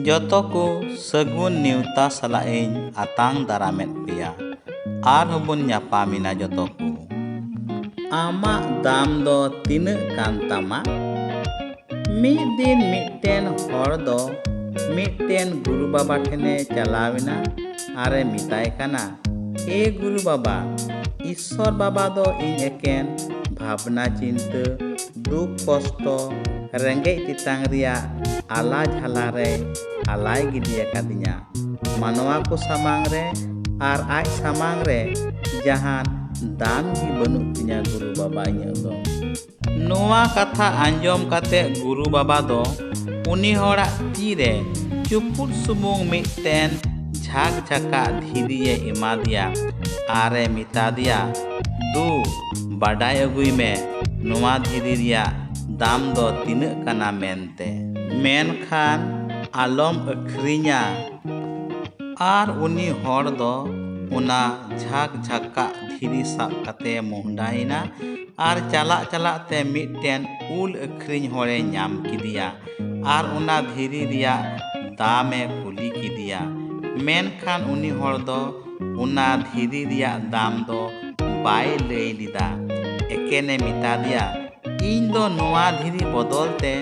ᱡᱚᱛᱚ ᱠᱚ ᱥᱟᱹᱜᱩᱱ ᱱᱮᱣᱛᱟ ᱥᱟᱞᱟᱜ ᱤᱧ ᱟᱛᱟᱝ ᱫᱟᱨᱟᱢᱮᱫ ᱯᱮᱭᱟ ᱟᱨ ᱦᱚᱸᱵᱚᱱ ᱧᱟᱯᱟᱢᱮᱱᱟ ᱡᱚᱛᱚ ᱠᱚ ᱟᱢᱟᱜ ᱫᱟᱢ ᱫᱚ ᱛᱤᱱᱟᱹᱜ ᱠᱟᱱ ᱛᱟᱢᱟ ᱢᱤᱫ ᱫᱤᱱ ᱢᱤᱫᱴᱮᱱ ᱦᱚᱲ ᱫᱚ ᱢᱤᱫᱴᱮᱱ ᱜᱩᱨᱩ ᱵᱟᱵᱟ ᱴᱷᱮᱱᱮ ᱪᱟᱞᱟᱣᱮᱱᱟ ᱟᱨᱮ ᱢᱮᱛᱟᱭ ᱠᱟᱱᱟ ᱮ ᱜᱩᱨᱩ ᱵᱟᱵᱟ ᱤᱥᱥᱚᱨ ᱵᱟᱵᱟ ᱫᱚ ᱤᱧ ᱮᱠᱮᱱ ᱵᱷᱟᱵᱽᱱᱟ ᱪᱤᱱᱛᱟᱹ ᱫᱩᱠ ᱠᱚᱥᱴᱚ ᱨᱮᱸᱜᱮᱡ ᱛᱮᱛᱟᱝ ᱨᱮᱭᱟᱜ ᱟᱞᱟ ᱡᱷᱟᱞᱟ ᱨᱮ ᱟᱞᱟᱭ ᱜᱤᱰᱤ ᱟᱠᱟᱫᱤᱧᱟ ᱢᱟᱱᱣᱟ ᱠᱚ ᱥᱟᱢᱟᱝ ᱨᱮ ᱟᱨ ᱟᱡ ᱥᱟᱢᱟᱝ ᱨᱮ ᱡᱟᱦᱟᱱ ᱫᱟᱢ ᱜᱮ ᱵᱟᱹᱱᱩᱜ ᱛᱤᱧᱟ ᱜᱩᱨᱩ ᱵᱟᱵᱟ ᱤᱧᱟᱹᱜ ᱫᱚ ᱱᱚᱣᱟ ᱠᱟᱛᱷᱟ ᱟᱸᱡᱚᱢ ᱠᱟᱛᱮ ᱜᱩᱨᱩ ᱵᱟᱵᱟ ᱫᱚ ᱩᱱᱤ ᱦᱚᱲᱟᱜ ᱛᱤ ᱨᱮ ᱪᱩᱯᱩᱫ ᱥᱩᱢᱩᱝ ᱢᱤᱫᱴᱮᱱ ᱡᱷᱟᱠ ᱡᱷᱟᱠᱟᱜ ᱫᱷᱤᱨᱤᱭᱮ ᱮᱢᱟᱫᱮᱭᱟ ᱟᱨᱮ ᱢᱮᱛᱟᱫᱮᱭᱟ ᱫᱩ ᱵᱟᱰᱟᱭ ᱟᱹᱜᱩᱭ ᱢᱮ ᱱᱚᱣᱟ ᱫᱷᱤᱨᱤ ᱨᱮᱭᱟᱜ ᱫᱟᱢ ᱫᱚ ᱛᱤᱱᱟᱹᱜ ᱠᱟᱱᱟ ᱢᱮᱱᱛᱮ᱾ ᱢᱮᱱᱠᱷᱟᱱ ᱟᱞᱚᱢ ᱟᱹᱠᱷᱨᱤᱧᱟ᱾ ᱟᱨ ᱩᱱᱤ ᱦᱚᱲ ᱫᱚ ᱚᱱᱟ ᱡᱷᱟᱠ ᱡᱷᱟᱠᱟᱜ ᱫᱷᱤᱨᱤ ᱥᱟᱵ ᱠᱟᱛᱮ ᱢᱚᱦᱰᱟ ᱮᱱᱟ ᱟᱨ ᱪᱟᱞᱟᱜ ᱪᱟᱞᱟᱜ ᱛᱮ ᱢᱤᱫᱴᱮᱱ ᱩᱞ ᱟᱹᱠᱷᱨᱤᱧ ᱦᱚᱲ ᱮ ᱧᱟᱢ ᱠᱮᱫᱮᱭᱟ ᱟᱨ ᱚᱱᱟ ᱫᱷᱤᱨᱤ ᱨᱮᱭᱟᱜ ᱫᱟᱢ ᱮ ᱠᱩᱞᱤ ᱠᱮᱫᱮᱭᱟ᱾ ᱢᱮᱱᱠᱷᱟᱱ ᱩᱱᱤ ᱦᱚᱲ ᱫᱚ ᱚᱱᱟ ᱫᱷᱤᱨᱤ ᱨᱮᱭᱟᱜ ᱫᱟᱢ ᱫᱚ ᱵᱟᱭ ᱞᱟᱹᱭ ᱞᱮᱫᱟ ᱮᱠᱮᱱᱮ ᱢᱮᱛᱟ ᱫᱮᱭᱟ ᱤᱧ ᱫᱚ ᱱᱚᱣᱟ ᱫᱷᱤᱨᱤ ᱵᱚᱫᱚᱞ ᱛᱮ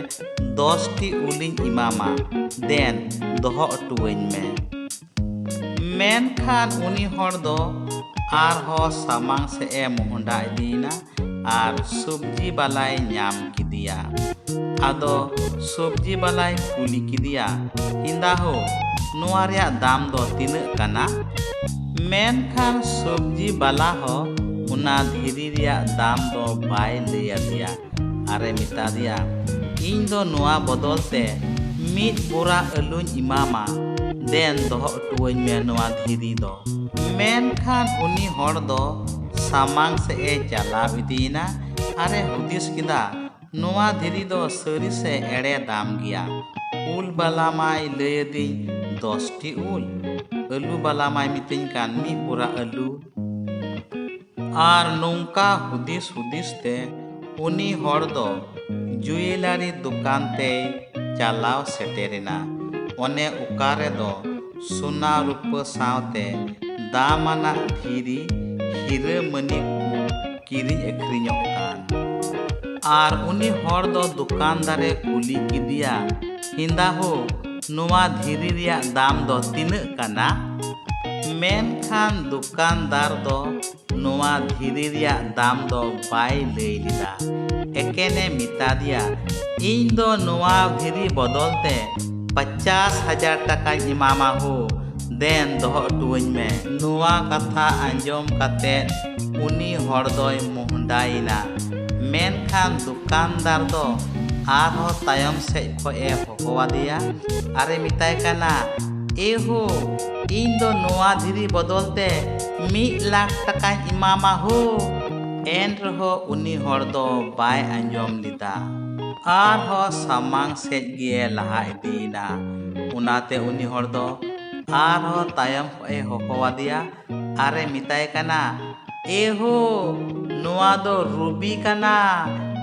ᱫᱚᱥᱴᱤ ᱩᱞᱤᱧ ᱮᱢᱟᱢᱟ ᱫᱮᱱ ᱫᱚᱦᱚ ᱚᱴᱚᱣᱟᱹᱧ ᱢᱮ ᱢᱮᱱᱠᱷᱟᱱ ᱩᱱᱤ ᱦᱚᱲ ᱫᱚ ᱟᱨᱦᱚᱸ ᱥᱟᱢᱟᱝ ᱥᱮᱫ ᱮ ᱢᱚᱦᱰᱟ ᱤᱫᱤᱭᱮᱱᱟ ᱟᱨ ᱥᱚᱵᱽᱡᱤ ᱵᱟᱞᱟᱭ ᱧᱟᱢ ᱠᱮᱫᱮᱭᱟ ᱟᱫᱚ ᱥᱚᱵᱽᱡᱤ ᱵᱟᱞᱟᱭ ᱠᱩᱞᱤ ᱠᱮᱫᱮᱭᱟ ᱦᱤᱸᱫᱟ ᱦᱳ ᱱᱚᱣᱟ ᱨᱮᱭᱟᱜ ᱫᱟᱢ ᱫᱚ ᱛᱤᱱᱟᱹᱜ ᱠᱟᱱᱟ ᱢᱮᱱᱠᱷᱟᱱ ᱥᱚᱵᱽᱡᱤ ᱵᱟᱞᱟ ᱦᱚᱸ ᱚᱱᱟ ᱫᱷᱤᱨᱤ ᱨᱮᱭᱟᱜ ᱫᱟᱢ ᱫᱚ ᱵᱟᱭ ᱞᱟᱹᱭ ᱟᱫᱮᱭᱟ ᱟᱨᱮ ᱢᱮᱛᱟ ᱫᱮᱭᱟ ᱤᱧ ᱫᱚ ᱱᱚᱣᱟ ᱵᱚᱫᱚᱞ ᱛᱮ ᱢᱤᱫ ᱵᱚᱨᱟ ᱟᱹᱞᱩᱧ ᱮᱢᱟᱢᱟ ᱫᱮᱱ ᱫᱚᱦᱚ ᱦᱚᱴᱚᱣᱟᱹᱧ ᱢᱮ ᱱᱚᱣᱟ ᱫᱷᱤᱨᱤ ᱫᱚ ᱢᱮᱱᱠᱷᱟᱱ ᱩᱱᱤ ᱦᱚᱲ ᱫᱚ ᱥᱟᱢᱟᱝ ᱥᱮᱫ ᱮ ᱪᱟᱞᱟᱣ ᱤᱫᱤᱭᱮᱱᱟ ᱟᱨ ᱮ ᱦᱩᱫᱤᱥ ᱠᱮᱫᱟ ᱱᱚᱣᱟ ᱫᱷᱤᱨᱤ ᱫᱚ ᱥᱟᱹᱨᱤ ᱥᱮ ᱮᱲᱮ ᱫᱟᱢ ᱜᱮᱭᱟ ᱩᱞ ᱵᱟᱞᱟ ᱢᱟᱭ ᱞᱟᱹᱭ ᱟᱹᱫᱤᱧ ᱫᱚᱥᱴᱤ ᱩᱞ ᱟᱹᱞᱩ ᱵᱟᱞᱟ ᱢᱟᱭ ᱢᱤᱛᱟᱹᱧ ᱠᱟᱱ ᱢᱤᱫ ᱵᱚᱨᱟ ᱟᱹᱞᱩ ᱟᱨ ᱱᱚᱝᱠᱟ ᱦᱩᱫᱤᱥ ᱦᱩᱫᱤᱥ ᱛᱮ ᱩᱱᱤ ᱦᱚᱲ ᱫᱚ ᱡᱩᱭᱮᱞᱟᱨᱤ ᱫᱚᱠᱟᱱ ᱛᱮᱭ ᱪᱟᱞᱟᱣ ᱥᱮᱴᱮᱨᱮᱱᱟ ᱚᱱᱮ ᱚᱠᱟ ᱨᱮᱫᱚ ᱥᱚᱱᱟ ᱨᱩᱯᱟᱹ ᱥᱟᱶᱛᱮ ᱫᱟᱢᱟᱱᱟᱜ ᱫᱷᱤᱨᱤ ᱦᱤᱨᱟᱹ ᱢᱟᱹᱱᱤ ᱠᱚ ᱠᱤᱨᱤᱧ ᱟᱹᱠᱷᱨᱤᱧᱚᱜ ᱠᱟᱱ ᱟᱨ ᱩᱱᱤ ᱦᱚᱲ ᱫᱚ ᱫᱚᱠᱟᱱᱫᱟᱨᱮ ᱠᱩᱞᱤ ᱠᱮᱫᱮᱭᱟ ᱦᱤᱸᱫᱟ ᱦᱳ ᱱᱚᱣᱟ ᱫᱷᱤᱨᱤ ᱨᱮᱭᱟᱜ ᱫᱟᱢ ᱫᱚ ᱛᱤᱱᱟᱹᱜ ᱠᱟᱱᱟ ᱢᱮᱱᱠᱷᱟᱱ ᱫᱚᱠᱟᱱᱫᱟᱨ ᱫᱚ ᱱᱚᱣᱟ ᱫᱷᱤᱨᱤ ᱨᱮᱭᱟᱜ ᱫᱟᱢ ᱫᱚ ᱵᱟᱭ ᱞᱟᱹᱭ ᱞᱮᱫᱟ ᱮᱠᱮᱱᱮ ᱢᱮᱛᱟ ᱫᱮᱭᱟ ᱤᱧ ᱫᱚ ᱱᱚᱣᱟ ᱫᱷᱤᱨᱤ ᱵᱚᱫᱚᱞ ᱛᱮ ᱯᱚᱪᱟᱥ ᱦᱟᱡᱟᱨ ᱴᱟᱠᱟᱧ ᱮᱢᱟᱢᱟ ᱦᱳ ᱫᱮᱱ ᱫᱚᱦᱚ ᱦᱚᱴᱚᱣᱟᱹᱧ ᱢᱮ ᱱᱚᱣᱟ ᱠᱟᱛᱷᱟ ᱟᱸᱡᱚᱢ ᱠᱟᱛᱮ ᱩᱱᱤ ᱦᱚᱲ ᱫᱚᱭ ᱢᱚᱦᱰᱟᱭᱮᱱᱟ ᱢᱮᱱᱠᱷᱟᱱ ᱫᱚᱠᱟᱱᱫᱟᱨ ᱫᱚ ᱟᱨᱦᱚᱸ ᱛᱟᱭᱚᱢ ᱥᱮᱡ ᱠᱷᱚᱡ ᱮ ᱦᱚᱦᱚᱣᱟᱫᱮᱭᱟ ᱟᱨᱮ ᱢᱮᱛᱟᱭ ᱠᱟᱱᱟ ᱮ ᱦᱳ ᱤᱧ ᱫᱚ ᱱᱚᱣᱟ ᱫᱷᱤᱨᱤ ᱵᱚᱫᱚᱞ ᱛᱮ ᱢᱤᱫ ᱞᱟᱠᱷ ᱴᱟᱠᱟᱧ ᱮᱢᱟᱢᱟ ᱦᱳ ᱮᱱ ᱨᱮᱦᱚᱸ ᱩᱱᱤ ᱦᱚᱲ ᱫᱚ ᱵᱟᱭ ᱟᱸᱡᱚᱢ ᱞᱮᱫᱟ ᱟᱨᱦᱚᱸ ᱥᱟᱢᱟᱝ ᱥᱮᱫ ᱜᱮ ᱞᱟᱦᱟ ᱤᱫᱤᱭᱮᱱᱟ ᱚᱱᱟᱛᱮ ᱩᱱᱤ ᱦᱚᱲ ᱫᱚ ᱟᱨᱦᱚᱸ ᱛᱟᱭᱚᱢ ᱠᱷᱚᱱ ᱮ ᱦᱚᱦᱚ ᱟᱫᱮᱭᱟ ᱟᱨᱮ ᱢᱮᱛᱟᱭ ᱠᱟᱱᱟ ᱮ ᱦᱳ ᱱᱚᱣᱟ ᱫᱚ ᱨᱩᱵᱤ ᱠᱟᱱᱟ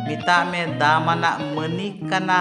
ᱢᱮᱛᱟᱜ ᱢᱮ ᱫᱟᱢᱟᱱᱟᱜ ᱢᱟᱹᱱᱤᱠ ᱠᱟᱱᱟ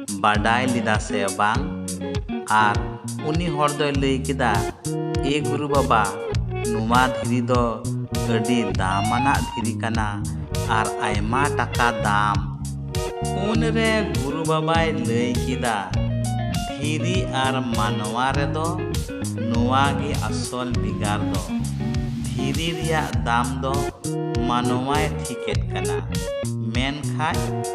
ᱵᱟᱰᱟᱭ ᱞᱮᱫᱟ ᱥᱮ ᱵᱟᱝ ᱟᱨ ᱩᱱᱤ ᱦᱚᱲ ᱫᱚᱭ ᱞᱟᱹᱭ ᱠᱮᱫᱟ ᱮ ᱜᱩᱨᱩ ᱵᱟᱵᱟ ᱱᱚᱣᱟ ᱫᱷᱤᱨᱤ ᱫᱚ ᱟᱹᱰᱤ ᱫᱟᱢᱟᱱᱟᱜ ᱫᱷᱤᱨᱤ ᱠᱟᱱᱟ ᱟᱨ ᱟᱭᱢᱟ ᱴᱟᱠᱟ ᱫᱟᱢ ᱩᱱ ᱨᱮ ᱜᱩᱨᱩ ᱵᱟᱵᱟᱭ ᱞᱟᱹᱭ ᱠᱮᱫᱟ ᱫᱷᱤᱨᱤ ᱟᱨ ᱢᱟᱱᱣᱟ ᱨᱮᱫᱚ ᱱᱚᱣᱟ ᱜᱮ ᱟᱥᱚᱞ ᱵᱷᱮᱜᱟᱨ ᱫᱚ ᱫᱷᱤᱨᱤ ᱨᱮᱭᱟᱜ ᱫᱟᱢ ᱫᱚ ᱢᱟᱱᱣᱟᱭ ᱴᱷᱤᱠᱮᱫ ᱠᱟᱱᱟ ᱢᱮᱱᱠᱷᱟᱱ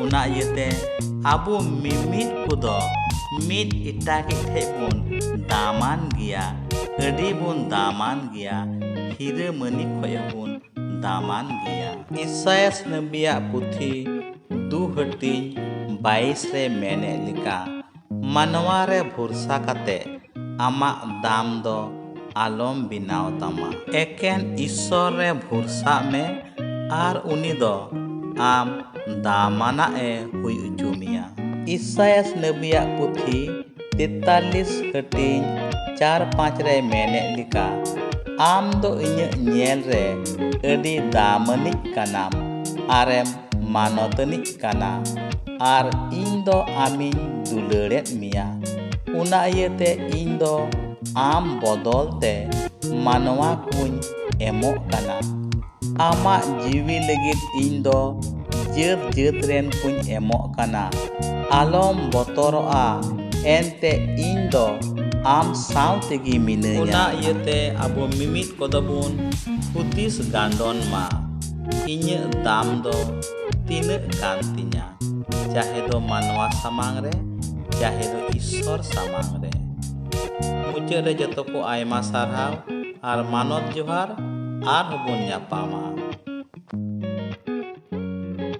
ᱚᱱᱟ ᱤᱭᱟᱹᱛᱮ ᱟᱵᱚ ᱢᱤᱢᱤᱫ ᱠᱚᱫᱚ ᱢᱤᱫ ᱮᱴᱟᱜᱤᱡ ᱴᱷᱮᱡ ᱵᱚᱱ ᱫᱟᱢᱟᱱ ᱜᱮᱭᱟ ᱟᱹᱰᱤ ᱵᱚᱱ ᱫᱟᱢᱟᱱ ᱜᱮᱭᱟ ᱦᱤᱨᱟᱹ ᱢᱟᱹᱱᱤ ᱠᱷᱚᱡ ᱦᱚᱸᱵᱚᱱ ᱫᱟᱢᱟᱱ ᱜᱮᱭᱟ ᱤᱥᱟᱭᱟᱥ ᱱᱟᱹᱵᱤᱭᱟᱜ ᱯᱩᱛᱷᱤ ᱫᱩ ᱦᱟᱹᱴᱤᱧ ᱵᱟᱭᱤᱥ ᱨᱮ ᱢᱮᱱᱮᱫ ᱞᱮᱠᱟ ᱢᱟᱱᱣᱟ ᱨᱮ ᱵᱷᱚᱨᱥᱟ ᱠᱟᱛᱮ ᱟᱢᱟᱜ ᱫᱟᱢ ᱫᱚ ᱟᱞᱚᱢ ᱵᱮᱱᱟᱣ ᱛᱟᱢᱟ᱾ ᱮᱠᱮᱱ ᱤᱥᱥᱚᱨ ᱨᱮ ᱵᱷᱚᱨᱥᱟᱜ ᱢᱮ ᱟᱨ ᱩᱱᱤ ᱫᱚ ᱟᱢ ᱫᱟᱢᱟᱱᱟᱜ ᱮ ᱦᱩᱭ ᱚᱪᱚ ᱢᱮᱭᱟ᱾ ᱤᱥᱟᱭᱟᱥ ᱱᱟᱹᱵᱤᱭᱟᱜ ᱯᱩᱛᱷᱤ ᱛᱮᱛᱟᱞᱤᱥ ᱦᱟᱹᱴᱤᱧ ᱪᱟᱨ ᱯᱟᱸᱪ ᱨᱮᱭ ᱢᱮᱱᱮᱫ ᱞᱮᱠᱟ, ᱟᱢ ᱫᱚ ᱤᱧᱟᱹᱜ ᱧᱮᱞ ᱨᱮ ᱟᱹᱰᱤ ᱫᱟᱢᱟᱱᱤᱡ ᱠᱟᱱᱟᱢ ᱟᱨᱮᱢ ᱢᱟᱱᱚᱛᱟᱱᱤᱡ ᱠᱟᱱᱟ᱾ ᱟᱨ ᱤᱧ ᱫᱚ ᱟᱢᱤᱧ ᱫᱩᱞᱟᱹᱲᱮᱫ ᱢᱮᱭᱟ ᱚᱱᱟ ᱤᱭᱟᱹᱛᱮ ᱤᱧ ᱫᱚ ᱟᱢ ᱵᱚᱫᱚᱞ ᱛᱮ ᱢᱟᱱᱣᱟ ᱠᱚᱧ ᱮᱢᱚᱜ ᱠᱟᱱᱟ ᱟᱢᱟᱜ ᱡᱤᱣᱤ ᱞᱟᱹᱜᱤᱫ ᱤᱧ ᱫᱚ ᱡᱟᱹᱛ ᱡᱟᱹᱛ ᱨᱮᱱ ᱠᱚᱧ ᱮᱢᱚᱜ ᱠᱟᱱᱟ ᱟᱞᱚᱢ ᱵᱚᱛᱚᱨᱚᱜᱼᱟ ᱮᱱᱛᱮ ᱤᱧ ᱫᱚ ᱟᱢ ᱥᱟᱶ ᱛᱮᱜᱮ ᱢᱤᱱᱟᱹᱧᱟ ᱚᱱᱟ ᱤᱭᱟᱹᱛᱮ ᱟᱵᱚ ᱢᱤᱢᱤᱫ ᱠᱚᱫᱚ ᱵᱚᱱ ᱦᱩᱫᱤᱥ ᱜᱟᱱᱰᱚᱱ ᱢᱟ ᱤᱧᱟᱹᱜ ᱫᱟᱢ ᱫᱚ ᱛᱤᱱᱟᱹᱜ ᱠᱟᱱ ᱛᱤᱧᱟ ᱪᱟᱦᱮ ᱫᱚ ᱢᱟᱱᱣᱟ ᱥᱟᱢᱟᱝ ᱨᱮ ᱪᱟᱦᱮ ᱫᱚ ᱤᱥᱥᱚᱨ ᱥᱟᱢᱟᱝ ᱨᱮ ᱢᱩᱪᱟᱹᱫ ᱨᱮ ᱡᱚᱛᱚ ᱠᱚ ᱟᱭᱢᱟ ᱥᱟᱨᱦᱟᱣ ᱟᱨ ᱢᱟᱱᱚᱛ ᱡᱚᱦᱟᱨ ᱟᱨᱦᱚᱸ ᱵᱚᱱ ᱧᱟᱯᱟᱢᱟ